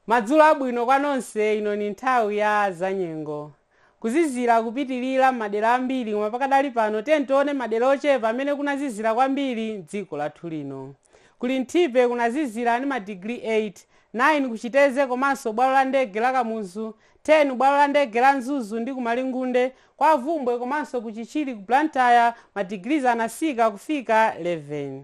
madzulo abwino kwa nonse ino ni nthawi ya zanyengo kuzizira kupitirira mmadera ambiri koma pakadali pano tiyeni tione madera ochepa amene kunazizira kwambiri mdziko lathu lino ku linthipe kunazizira ndi madigiri 8 9 kuchiteze komanso bwalo la ndege la kamuzu 10 bwalo la ndege la mzuzu ndi kumalingunde Kwa Bvumbwe komanso ku Chichiri ku Blantyre ma degrees anasika kufika 11.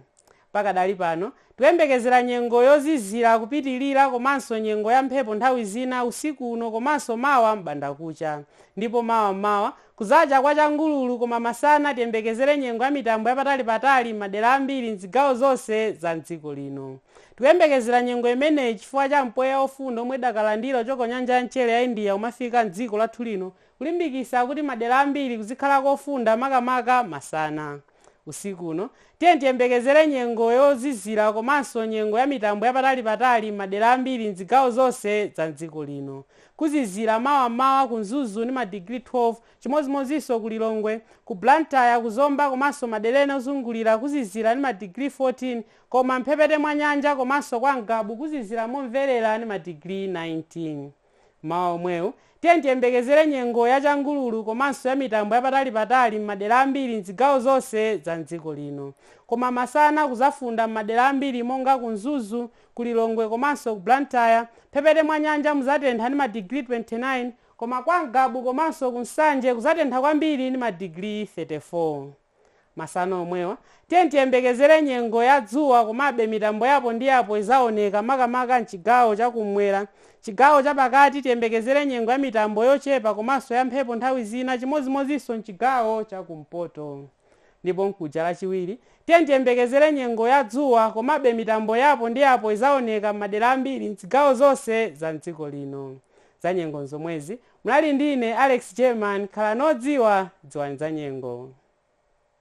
Pakadali pano, tikuyembekezera nyengo yozizira kupitilira komanso nyengo ya mphepo nthawi zina usiku uno komanso mawa m'bandakucha. Ndipo mawa m'mawa, kudzacha kwa changululu koma masana tiyembekezere nyengo ya mitambo yapatali patali m'madera ambiri m'zigawo zonse za m'dziko lino. Tikuyembekezera nyengo imeneyi chifukwa cha mpweya ofunda omwe tidakalandira kuchoka ku nyanja ya mchere ya India umene ukufika m'dziko lathu lino Kulimbikisa kuti madera ambiri kuzikhala kofunda makamaka masana. Usiku uno tiyeni tiyembekezere nyengo yozizira komanso nyengo ya mitambo yapatali patali m'madera ambiri m'zigawo zonse za m'dziko lino. Kuzizira mawa m'mawa ku Mzuzu ndi madigiri 12, chimodzimodzinso ku Lilongwe, ku Blantyre, ku Zomba komanso madera ena ozungulira kuzizira ndi madigiri 14 koma m'mphepete mwa nyanja komanso kwa Ngabu kuzizira momverera ndi madigiri 19. Mmawa omwewu, tiyeni tiyembekezere nyengo ya changululu komanso ya mitambo ya patalipatali m'madera ambiri m'zigawo zonse za m'dziko lino. Koma masana kuzafunda m'madera ambiri monga ku Mzuzu, ku Lilongwe komanso ku Blantyre. M'mphepete mwa nyanja muzatentha ndi madigiri 29. Koma kwa Ngabu komanso ku Nsanje kuzatentha kwambiri ndi madigiri 34. Masana omwewa, tiyeni tiyembekezere nyengo ya dzuwa komabe mitambo yapo ndi yapo izaoneka makamaka mchigawo cha kummwera. Chigawo cha pakati tiyembekezere nyengo ya mitambo yochepa komanso ya mphepo nthawi zina chimodzimodzinso mchigawo cha kumpoto. Ndipo mkuja Lachiwiri, tiyeni tiyembekezere nyengo ya dzuwa komabe mitambo yapo ndi yapo izaoneka mmadera ambiri mzigawo zonse za mdziko lino. Za nyengo nzomwezi, Munali ndi ine Alex German, khalani odziwa, dziwani za nyengo.